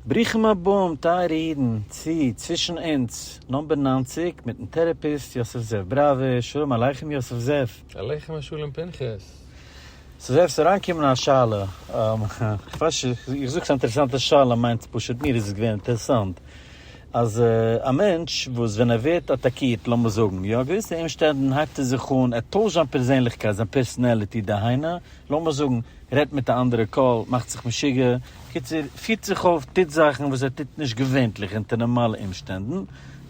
ברוכים הבאים טייערע אידן צו צווישן אונז נאמבער נײַנציק מיטן טערעפיסט יוסף זאב בראווער, שלום עליכם יוסף זאב. עליכם השלום פנחס. סאו זאב ס'איז אריינגעקומען א שאלה, איך ווייס נישט איך איך זאג ס'איז א אינטערעסאנטע שאלה מיינטס פשוט מיר איז עס געווען אינטערעסאנט אז א מענטש וואס ווען ער ווערט אטאקירט לאמיר זאגן יו א געוויסע אומשטענדן הייבט ער זיך אן ער טוישט זיין פערזענליכקייט זיין פערסענעליטי דהיינו לאמיר זאגן רעדט מיט א אנדערע קול, מאכט זיך משוגע, קיצור פירט זיך אויף, טוט זאכן וואס ער טוט נישט געווענטליך אונטער נארמאלע אומשטענדן,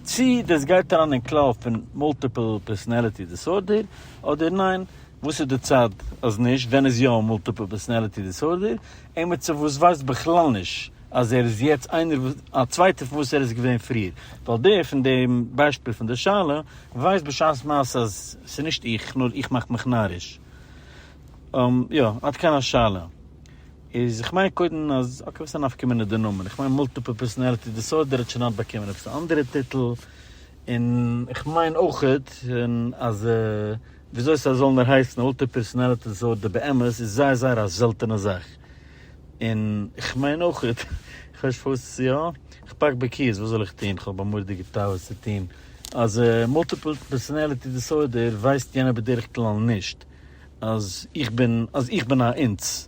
צו דאס גייט אריין אין כלל פון מאלטיפעל פערסאנעליטי דיסארדער אדער ניין, וואס איז די צד אז נישט, ווען איז יא מאלטיפעל פערסאנעליטי דיסארדער, עימיצער וואס ווייסט בכלל נישט אז ער איז יעצט איינער א צווייטער פון וואס ער איז געווען פריער, ווייל דער פון דעם ביישפיל פון די שאלה ווייסט בשעת מעשה אז ס'נישט איך נאר איך מאך מיך נאריש. און יא, עד כאן השאלה. איז איך מיין קודם אז אקעי וואס איז א נפקא מינה די נאמען? איך מיין מולטיפעל פערסאנעליטי דיסארדער האט שוין היינט באקומען עפעס א אנדערע טיטל, און איך מיין אויכעט און אז וויאזוי סאיז זאל נאר הייסן מולטיפעל פערסאנעליטי דיסארדער באמת איז זייער זייער א זעלטענע זאך, און איך מיין אויכעט איך ווייס נישט פארוואס יא איך פאק בקיאות וואס זאל איך טוהן איך האב א מורא'דיגע תאווה צו טוהן אז מולטיפעל פערסאנעליטי דיסארדער ווייסט יענער בדרך כלל נישט. אז איך בין אז איך בין א אונס,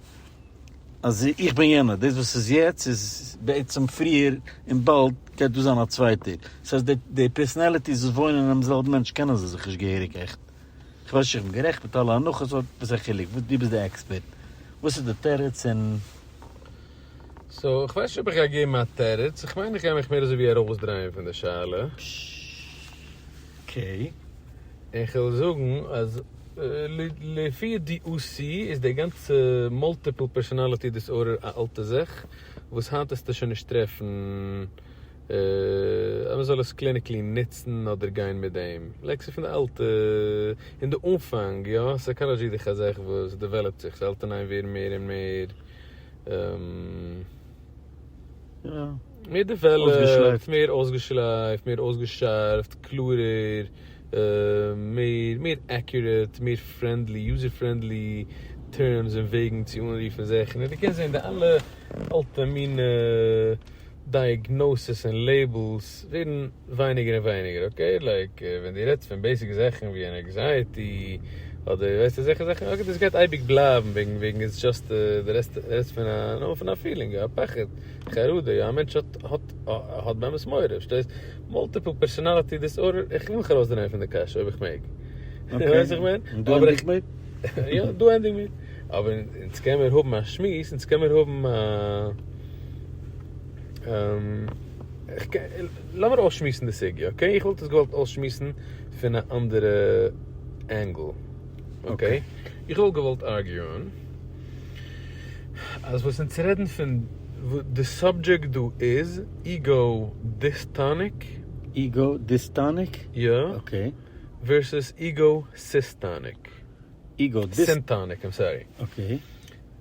אז איך בין יענער, דאס וואס איז יעצט איז בעצם פריער און באלד גייט דא זיין א צווייטער, דאס הייסט די די פערסאנעליטיס וואס וואוינען אינעם זעלבן מענטש קענען זיי זיך נישט געהעריג עכט, איך ווייס נישט איך בין גערעכט מיט אלע הנחות אבער וואס איז א חילוק, דו ביסט די עקספערט, וואס איז די תירוץ און. סאו איך ווייס נישט אויב איך גיי געבן א תירוץ, איך מיין איך גיי מיך מער אזוי ווי ארויסדרייען פון די שאלה. אקעי. און איך וועל זאגן אז לפי ידיעותי איז די גאנצע מאלטיפל פערסאנאליטי דיסארדער א אלטע זאך וואס היינט העסטו שוין נישט טרעפן אז מען זאל עס קליניקלי נוצן אדער גיין מיט דעם, לייק ס'איז פון די אלטע, אין די אנפאנג יא, סייקאלאדזשי איז דאך א זאך וואס דעוועלאפט זיך, ס'האלט און איין ווערן מער און מער. מער דעוועלאפט, מער אויסגעשלייפט, מער אויסגעשארפט, קלארער, מער, מער עקיוראט, מער פרענדלי, יוזער פרענדלי, טערמס און וועגן צו אנרופן זאכן, און דו קענסט זען די אלע אלטע מינע. דייעגנאסעס און לעיבלס ווערן ווייניגער און ווייניגער אקעי, לייק ווען דו רעדסט פון בעיסיק זאכן ווי אן עקזייעטי אדער ווייסט אזעלכע זאכן אקעי דאס גייט אייביג בלייבן וועגן וועגן איטס דזשאסט דו רעדסט פון א נאמען פון א פילינג א פחד חרדה יא א מענטש האט האט האט באמת מורא פארשטייסט מאלטיפעל פערסאנאליטי דיסארדער איך וויל מיך ארויסדרייען פון די קשיא אויב איך מעג אקעי ווייסט וואס איך מיין און דא ענדיג מיר יא דא ענדיג מיר אבער אונז קענמיר האבן א שמועס אונז קענמיר האבן א. לאמיר אויסשמועסן די סוגיא אקעי, איך וואלט עס געוואלט אויסשמועסן פון א אנדערע ענגל אקעי, איך וואלט געוואלט ארגיוען אז וואס אונז רעדן פון די סאבדזשעקט דא איז איגא דיסטאניק, איגא דיסטאניק? יא, אקעי, ווערסעס איגא סיסטאניק. איגאו דיס. סימפאניק, איים סארי. אקעי.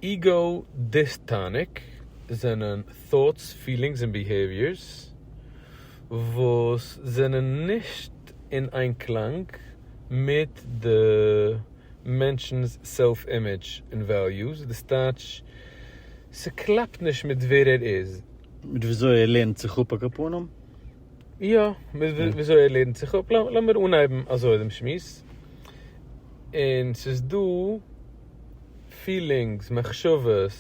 איגאו דיסטאניק זענען טאטס, פילינגס און ביהעיוויערס וואס זענען נישט אין איינקלאנג מיט די מענטשנ'ס סעלף אימעדזש און וועליוס, דאס טייטש ס'קלאפט נישט מיט ווער ער איז. מיט וויאזוי ער לערנט זיך אפ א קאפאנעם. יא, וויאזוי ער לערנט זיך אפ, לאמיר אנהייבן אזוי דעם שמועס, און ס'איז דא פילינגס, מחשבות,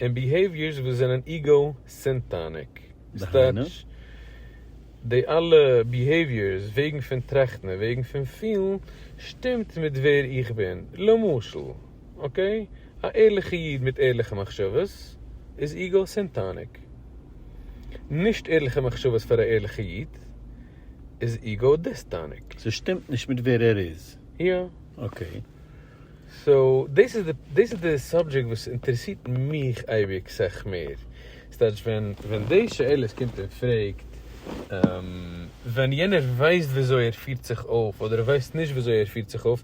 און ביהעיוויערס וואס זענען איגאו סענטאניק, דהיינו? די אלע ביהעיוויערס, וועגן פון טראכטן און וועגן פון פילן, שטימט מיט ווער איך בין, למשל. אקעי? א ערליכע איד מיט ערליכע מחשבות איז איגא סינטאניק. נישט ערליכע מחשבות פאר א ערליכע איד איז איגא דיסטאניק. ס'שטימט נישט מיט ווער ער איז. יא. אקעי. סאו דאס איז די סאבדזשעקט וואס אינטערעסירט מיך אייביג סך מער. ס'טייטש ווען די שאלות קומט און פרעגט, ווען יענער ווייסט וויאזוי ער פירט זיך אויף אדער ווייסט נישט וויאזוי ער פירט זיך אויף,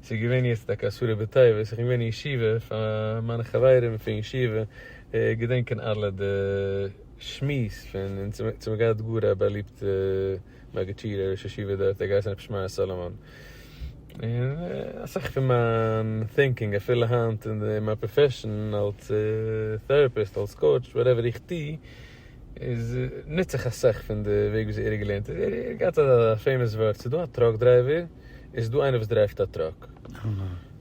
ס'איז געווען יעצט טאקע עשרה בטבת, איך בין געווען אין ישיבה, פאר מיינע חברים פון ישיבה געדענקען אלע די שמועס פון אונז, אונז האבן געהאט גאר א באליבטע מגידשיער ראש ישיבה דארט, ער האט געהייסן רבי שמעי' סאלאמאן, און אסאך פון מיין טינקינג אפילו היינט אין מיין פראפעשאן אלס טעראפיסט, אלס קאוטש, וואטעווער איך טו, איז נוצט זיך אסאך פון די וועג ווי אזוי ער האט געלערנט איז ער האט געהאט א פעימאס ווארט ס'איז דא א טראק דרייווער און ס'איז דא איינער וואס דרייווט א טראק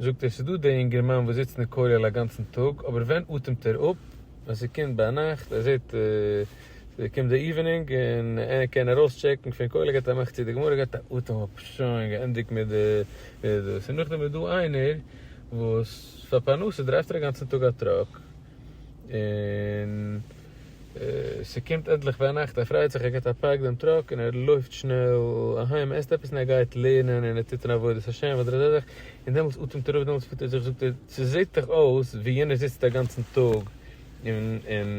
זאגט ער ס'איז דא דער אינגערמאן וואס זיצט אין כולל א גאנצן טאג אבער ווען אטעמט ער אפ ווען ס'קומט ביינאכט ער זעט ס'קומט די איווענינג און ער קען ארויס טשעקן פון כולל געבט א מאך צו די גמרא געבט א אטעם אפ שוין געענדיגט מיט די דאס און נאכדעם איז דא איינער וואס פאר פרנסה דרייווט ער א גאנצן טאג א טראק. און ס'קומט ענדליך וויינאכט ער פרייט זיך ער געט א פארק דעם טראק און ער לויפט שנעל אהיים ער עסט עפעס און ער גייט לערנען און ער טוט אין עבודת השם ודרדדך און דעמאלטס אטעמט ער אויף דעמאלטס פירט ער זיך זאגט ער ס'זעט דאך אויס ווי יענער זיצט א גאנצן טאג און און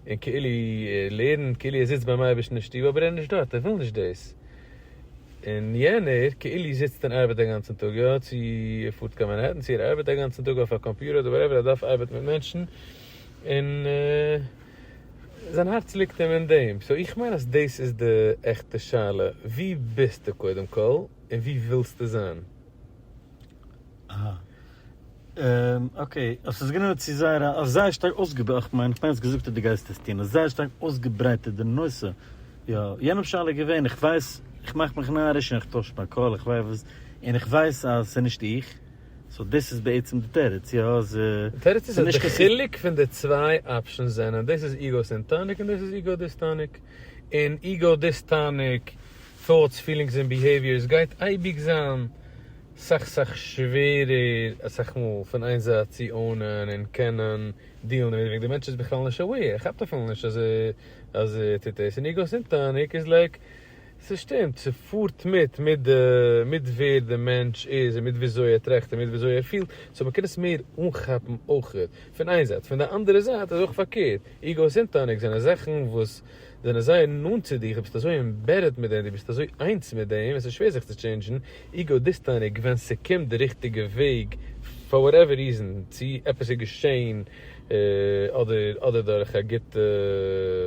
און כאילו ער לערנט כאילו ער זיצט ביים אייבערשטן אין שטוב אבער ער איז נישט דארט ער וויל נישט דאס. און יענער כאילו זיצט און ארבעט א גאנצן טאג, יא צו ער פארט קיין מאנהעטן צו ער ארבעט א גאנצן טאג אויף א קאמפיוטער אדער וואטעווער ער דארף ארבעטן מיט מענטשן און זיין הארץ ליגט אים אין דעם, סאו איך מיין אז דאס איז די עכטע שאלה וואו ביסטו קודם כל און וואו ווילסטו זיין? אקעי, אבער ס'איז גענוי צו זייער א, אויף זייער שטארק אויסגעבארעטע, איך מיין, איך מיין האסט געזאגט אז דו גייסט עס טון, אויף זייער שטארק אויסגעברייטערט די נושא, יא, יענעם שאלה איז געווען, איך ווייס, איך מאך מיך נאריש און איך טויש מיין קול, איך ווייס וואס, און איך ווייס אז ס'איז נישט איך, סאו דאס איז בעצם די תירוץ, יא, אז די תירוץ איז אז די חילוק פון די צוויי אפשענס זענען, דאס איז איגאו סענטאניק און דאס איז איגאו דיסטאניק, און איגאו דיסטאניק. טאוטס, פילינגס און ביהעיוויערס גייט אייביג זיין סאך סאך שווערער אסאך מאל פון איין זייט צו אונען און קענען דיעלן דערמיט וועגן די מענטש איז בכלל נישט אוועיר ער כאפט אפילו נישט אז אז ער טוט דאס און איר גייט אונטער און ער איז לייק ס'שטימט ס'פארט מיט מיט די מיט ווער די מענטש איז און מיט וויאזוי ער טראכט און מיט וויאזוי ער פילט סאו מ'קען עס מער אנכאפן אויכעט פון איין זייט פון די אנדערע זייט איז אויך פארקערט איר גייט אונטער און ער גייט זענען זאכן וואס זענען אזוי נאנט צו דיר, דו ביסט אזוי עמבעדעד מיט דעם, דו ביסט אזוי איינס מיט דעם, עס איז שווער זיך צו טשעינדזשן, איגאו דיסטאניק, ווען ס'קומט די ריכטיגע וועג, פאר וואטעווער ריזען, צי עפעס איז געשעהן, אדער אדער דורך א גוטע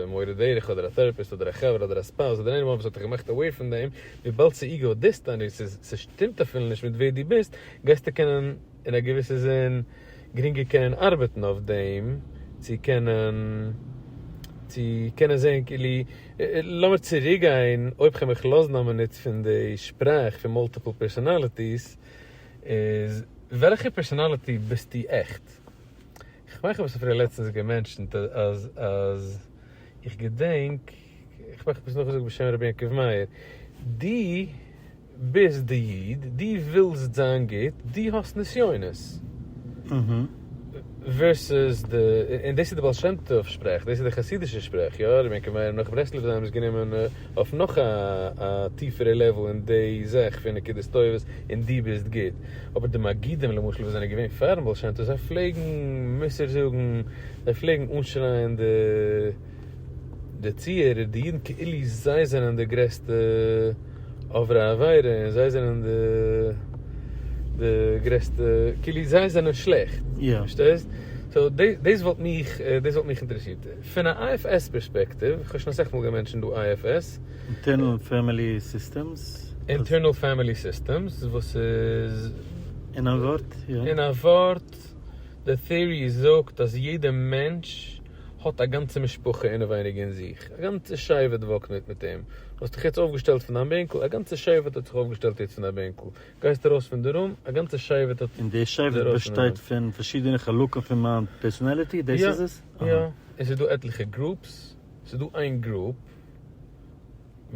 מורה דרך, אדער א טערעפיסט, אדער א חבר, אדער א ספאוז, אדער עניוואן וואס האט דיך געמאכט אוועיר פון דעם, וויבאלד ס'איגאו דיסטאניק, ס'שטימט אפילו נישט מיט ווער דו ביסט, גייסטו קענען. אין א געוויסע זין גרינגער קענען ארבעטן אויף דעם צו קענען צו קענען זעהן כאילו לאמיר צוריק גיין אויב כ'על מיך לאזן א מינוט פון די שפראך פון מאלטיפעל פערסאנאליטיס איז וועלכע פערסאנאליטי ביסטו עכט? כ'מיין כ'האב עס אפילו לעצטענס געמענטשענט אז אז איך געדענק. איך מאך עפעס נאכגעזאגט בשם רבי יעקב מאיר, דו ביסט די איד, דו ווילסט זיין גוט, דו האסט נסיונות. ווערסעס די, און דאס איז די בעל שם טוב שפראך, דאס איז די חסידישע שפראך, יא, רבי יעקב מאיר נאך ברסלב זיי האבן עס גענומען אויף נאך א טיפערע לעוועל אין די זאך פון נקודות טובות און דו ביסט גוט. אבער די מגידים למשל וואס זענען געווען פארן בעל שם טוב זיי פלעגן מוסר זאגן, זיי פלעגן אנשרייען די. די צוהערער, די אידן כאילו זיי זענען די גרעסטע עוברי עבירה און זיי זענען די די גרעסטע, כאילו זיי זענען שלעכט, פארשטייסט? סאו דאס וואלט מיך דאס וואלט מיך אינטערעסירט. פון א IFS פערספעקטיוו, איך האב שוין אסאך מאל געמענטשענט דא IFS. אינטערנעל פעמילי סיסטעמס. אינטערנעל פעמילי סיסטעמס, וואס איז. אין א ווארט, יא. אין א ווארט, די טעארי זאגט אז יעדע מענטש. האט א גאנצע משפחה אינעווייניג אין זיך, א גאנצע שבט וואקט מיט מיט אים, האסט דיך יעצט אויפגעשטעלט פון דיין בענקל, א גאנצע שבט האט זיך אויפגעשטעלט יעצט פון דיין בענקל, גייסט ארויס פון די רום, א גאנצע שבט האט. און דער שבט באשטייט פון פארשידענע חלקים פון מיין פערסאנעליטי, דאס איז עס? יא, יא, און ס'איז דא עטליכע גרופס, ס'איז דא איין גרופ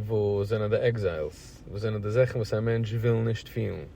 וואס זענען די עקזיילס, וואס זענען די זאכן וואס א מענטש וויל נישט פילן.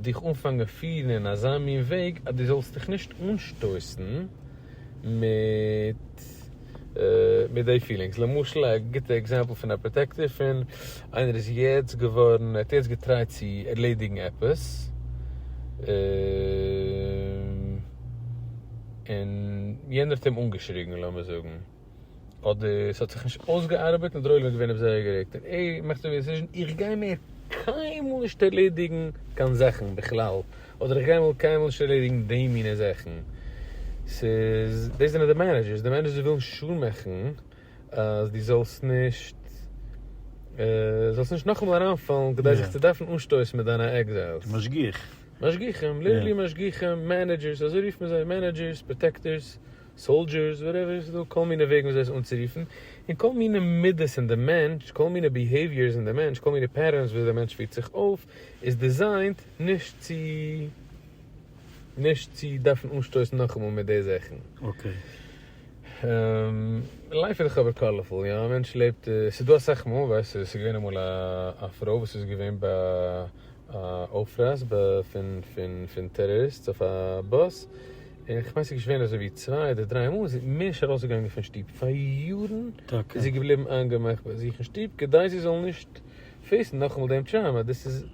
דיך אנפאנגען פירן אין אזא מין וועג אז דו זאלסט דיך נישט אנשטויסן מיט מיט די פילינגס, למשל א גוטע עקזעמפל פון א פראטעקטיוו פון איינער איז יעצט געווארן ער האט יעצט געטרייט צו ערלעדיגן עפעס און יענער האט אים אנגעשריגן לאמיר זאגן. אדער ס'האט זיך נישט אויסגעארבעט און דער עולם איז געווען עפעס אוועקגערעגט און ער מאכט אזוי א דעסיזשען, איך גיי מער קיינמאל נישט ערלעדיגן קיין זאכן בכלל, אדער איך גיי מער קיינמאל נישט ערלעדיגן די מינע זאכן. ס'איז, דאס זענען די מענעדזשערס, די מענעדזשערס ווילן שור מאכן אז דו זאלסט נישט, זאלסט נישט נאכאמאל אריינפאלן כדי זיך צו דארפן אנשטויסן מיט דיינע עקזעלס. משגיח. משגיחים, ליטערלי משגיחים, מענעדזשערס, אזוי רופט מען זיי, מענעדזשערס, פראטעקטערס. סאלדזשערס, וואטעווער, ס'דא כל מיני וועגן וויאזוי עס אנצורופן, און כל מיני מידות אין די מענטש, כל מיני ביהעיוויערס אין די מענטש, כל מיני פעטערנס וויאזוי די מענטש פירט זיך אויף, איז דיזיינט נישט צו נישט צו דארפן אנשטויסן נאכאמאל מיט די זאכן. אקעי. לייף איז דאך אבער קאלערפול, יא? א מענטש לעבט, ס'איז דא אסאך מאל, ווייסט, ס'איז געווען אמאל א פרוי וואס איז געווען ביי א אויפרייס פון טעראריסטס אויף א באס, איך מיין ס'איז געשווען אזוי ווי צוויי אדער דריי מאל איז זי נישט ארויס געגאנגען פון שטוב, פאר יארן איז זי געבליבן איינגעמאכט ביי זיך אין שטוב כדי זי זאל נישט פעיסן נאכאמאל דעם טראומא, דאס איז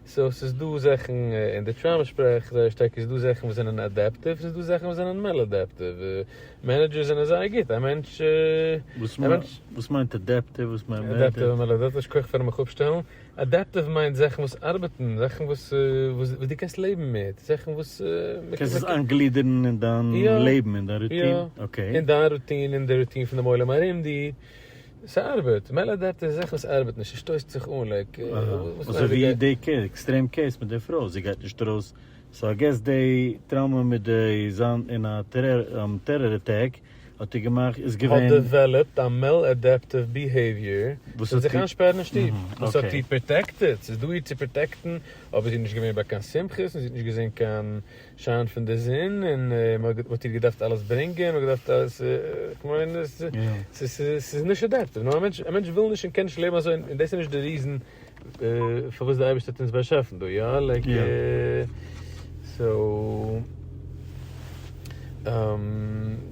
סאו ס'איז דא זאכן אין די טראומא שפראך זייער שטארק איז דא זאכן וואס זענען אדעפטיוו ס'איז דא זאכן וואס זענען מעלאדעפטיוו, מענעדזשערס זענען זייער גוט א מענטש. וואס מיינט אדעפטיוו וואס מיינט מענעדזשער? אדעפטיוו און מעלאדעפטיוו, שכוח פארן מיך אפשטעלן. אדעפטיוו מיינט זאכן וואס ארבעטן, זאכן וואס וואס דו קענסט לעבן מיט, זאכן וואס מען קען עס איינגלידערן אין דיין לעבן, אין דיין רוטין, אקעי. אין דיין רוטין, אין די רוטין פון דעם עולם ארום דיר, ס'ארבעט, מל אדעפטיוו איז זאכן וואס ארבעט נישט, ס'שטויסט זיך אן לייק. אזוי ווי די עקסטרעם קעיס מיט די פרוי, זי גייט נישט ארויס, סאו איי געס די טראומא מיט די זיין אין א טעראר אטעק האט ער געמאכט איז געווען. האט דעוועלאפט א מעלעדעפטיוו ביהעיוויער פון זיך איינשפערן אין שטוב. וואס האט איר פראטעקטעד? ס'איז דא איר צו פראטעקטן, אבער זי איז נישט געווען ביי קיין שמחות, און זי האט נישט געזען קיין שיין פון די זון, און מ'האט איר געדארפט אלעס ברענגען, מ'האט געדארפט אלעס, כ'מיין, ס'איז מעלעדעפטיוו, נאר א מענטש וויל נישט און קען נישט לעבן אזוי, און דאס איז נישט די ריזן פארוואס דער אייבערשטער האט אונז באשאפן דא, יא? לייק סאו,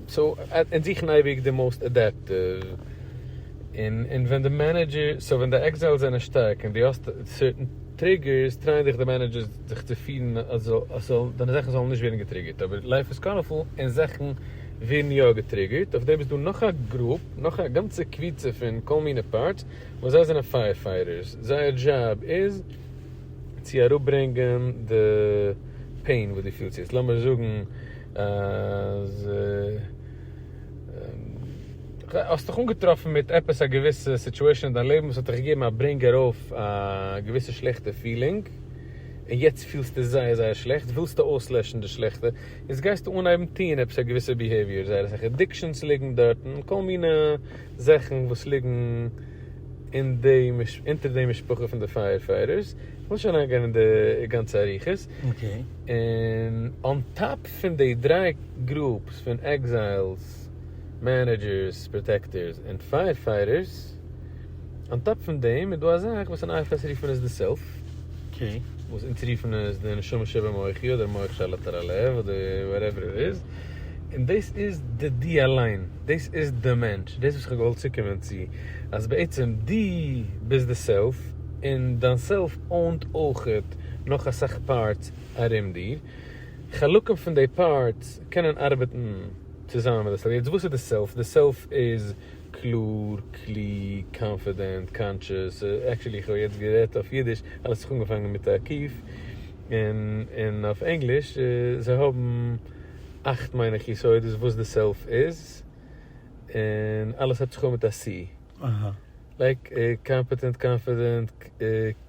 סאו אונז זוכן אייביג די מאוסט אדעפטיוו, און און ווען די מענעדזשער, סאו ווען די עקזיילס זענען שטארק און דו האסט סערטען טריגערס, טרייען זיך די מענעדזשערס זיך צו פירן אז ס'זאל, דיינע זאכן זאלן נישט ווערן געטריגערט, אבער לייף איז קאלערפול און זאכן ווערן יא געטריגערט, אויף דעם איז דא נאך א גרופ, נאך א גאנצע קביצה פון כל מיני פארטס. און זיי זענען פייער פייטערס, זייער דזשאב איז צו אראפ ברענגען די פעין וואס דו פילסט יעצט, לאמיר זאגן אז האסט דיך אנגעטראפן מיט עפעס א געוויסע סיטואשען אין דיין לעבן וואס האט דיך געגעבן א ברענג ארויף א געוויסע שלעכטע פילינג, און יעצט פילסטו זייער זייער שלעכט, ווילסטו אויסלעשן די שלעכטע, יעצט גייסטו אנהייבן טון עפעס א געוויסע ביהעיוויער, זייער אסאך עדיקשאנס ליגן דארטן, כל מיני זאכן וואס ליגן אין די אונטער די משפחה פון די פייער פייטערס, איך וויל נישט אריין גיין אין די גאנצע אריכות, און אן טאפ פון די דריי גרופס פון עקזיילס, מענעדזשערס, פראטעקטערס, און פייער פייטערס, אן טאפ פון דעם איז דא א זאך וואס אין IFS רופט מען עס די סעלף, וואס אונז רופן עס די נשמה שבמוחי אדער מח שעל עטרת הלב אדער וואטעווער איט איז. און דאס איז די די אליין, דאס איז די מענטש, דאס וואס כ'האב געוואלט צוקומען צו, אז בעצם דו ביסט די סעלף, און דיין סעלף אוינט אויך נאך אסאך פארטס ארום דיר, חלקים פון די פארטס קענען ארבעטן צוזאמען מיט די סעלף, יעצט וואס איז די סעלף? די סעלף איז קלאר, קלוג, קאנפידענט, קאנטשעס, עקטשעלי איך האב יעצט גערעדט אויף אידיש, אלעס האט זיך אנגעפאנגען מיט א קיף. און אויף ענגליש זיי האבן אכט מיין איך יסודות וואס די סעלף איז, און אלעס הייבט זיך אן מיט א סי, לייק קאמפעטענט, קאנפידענט,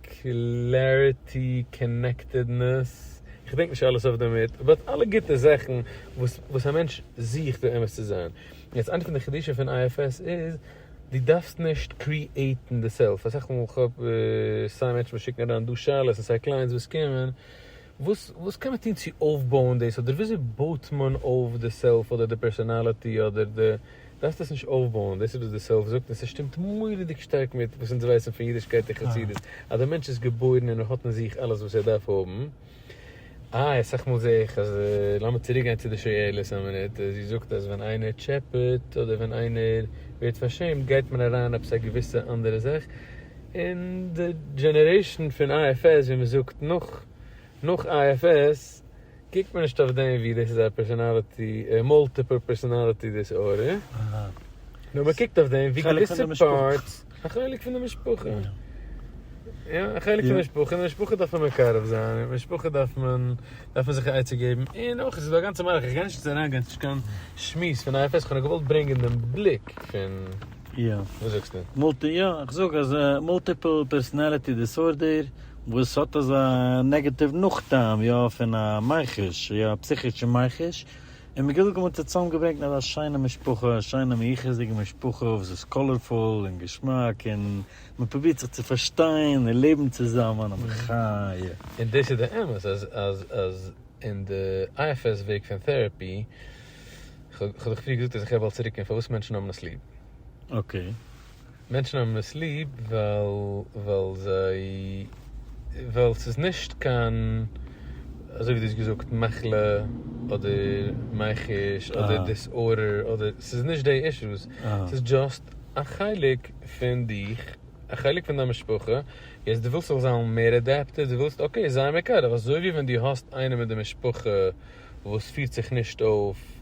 קלעריטי, קאנעקטעדנעס, איך געדענק נישט אלעס אויף די מינוט, באט אלע גוטע זאכן וואס א מענטש זוכט באמת צו זיין, יעצט איינע פון די חידושים פון IFS איז. דו דארפסט נישט קריעטן די סעלף, אסאך מאל כהאב סיי מענטשן וואס שיקן אריין דא שאלות און סיי קלייענטס וואס קומען, וואס וואס קען מען טון צו אויפבויען דאס אדער וויאזוי בויט מען אויף די סעלף אדער די פערסאנאליטי אדער די, דארפסט עס נישט אויפבויען, דאס איז וואס די סעלף זאגט און ס'שטימט מורא'דיג שטארק מיט וואס אונז ווייסן פון אידישקייט און חסידות אז א מענטש איז געבוירן און ער האט אין זיך אלעס וואס ער דארף האבן, איי אסאך מאל זעה איך אז לאמיר צוריק גיין צו די שאלות א מינוט, זי זאגט אז ווען איינער טשעפעט אדער ווען איינער ווערט פארשעמט גייט מען אריין עפעס א געוויסע אנדערע זאך, און די דזשענערעישאן פון IFS ווי מען זאגט נאך נאך IFS קוקט מען נישט אויף דעם ווי דאס איז א פערסאנאליטי מאלטיפעל פערסאנאליטי דיסארדער, נאר מען קוקט אויף דעם ווי געוויסע פארטס. א חלק פון די משפחה. יא. יא, א חלק פון די משפחה, און די משפחה דארף מען מקרב זיין, און די משפחה דארף מען, דארף מען זיך א עצה געבן, און אויך איז דא א גאנצע מהלך, איך גיי נישט יעצט אריין גיין, ס'איז נישט קיין שמועס פון איי עף עס, כ'האב נאר געוואלט ברענגען דעם בליק פון, יא. וואס זאגסטו? מולטי, יא, איך זאג אז מולטיפעל פערסאנאליטי דיסארדער, וואס האט אזא נעגאטיוו נאכטעם, יא, פון א מיחוש, יא, פסיכישע מיחוש, און מגדל גמור האט ער צוזאם געברענגט אזא שיינע משפחה, א שיינע מיוחס'דיגע משפחה וואס איז קאלערפול און געשמאק און מען פרובירט זיך צו פארשטיין און לעבן צוזאמען, א מחיה. און דאס איז די אמת אז אז אז אין די IFS וועג פון טעראפי, כ'האב דאך פריער געזאגט אז איך רעד באלד צוריק אין פארוואס מענטשן האבן עס ליב. אקעי. מענטשן האבן עס ליב ווייל זיי ווייל ס'איז נישט קיין אזוי ווי דו האסט געזאגט מחלה אדער מייחוש אדער דיסארדער אדער ס'איז נישט די אישוס ס'איז דזשאסט א חלק פון דיך א חלק פון דיין משפחה יעצט דו ווילסט זיך זיין מער אדעפטעד דו ווילסט אקעי זיי מקרב אזוי ווי ווען דו האסט איינעם אין די משפחה וואס פירט זיך נישט אויף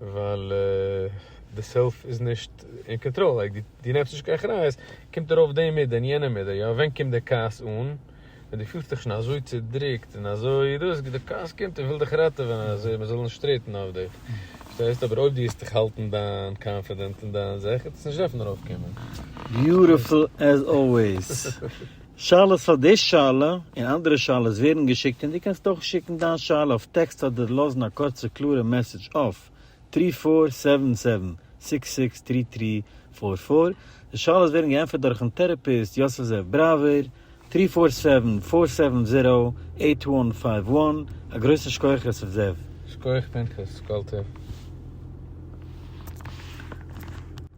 ווייל די סעלף איז נישט אין קאנטראל, לייק דו נעמסט נישט קיין אחריות, קומט ארויף דעם מדה און יענעם מדה, יא ווען קומט די כעס אן? ווען דו פילסט דיך שוין אזוי צודרוקט און אזוי דאס, די כעס קומט און וויל דיך ראטעווען אז מען זאל נישט טרעטן אויף דיך, פארשטייסט? אבער אויב דו וועסט דיך האלטן דיין קאנפידענט און דיין זיך, וועט עס נישט דארפן ארויפקומען. ביוטיפול עז אלוועיס. שאלות פאר די שאלה און אנדערע שאלות ווערן געשיקט און דו קענסט אויך שיקן דיין שאלה אויף טעקסט אדער לאזן א קורצע קלארע מעסעדזש אויף טרי פאר סעווען סעווען סיקס סיקס טרי טרי פאר פאר. די שאלות ווערן געענטפערט דורכן טעראפיסט יוסף זאב בראווער, טרי פאר סעווען פאר סעווען זירא עיט וואן פייוו וואן. א גרויסן שכוח יוסף זאב! שקויעך פנחס קאלטער.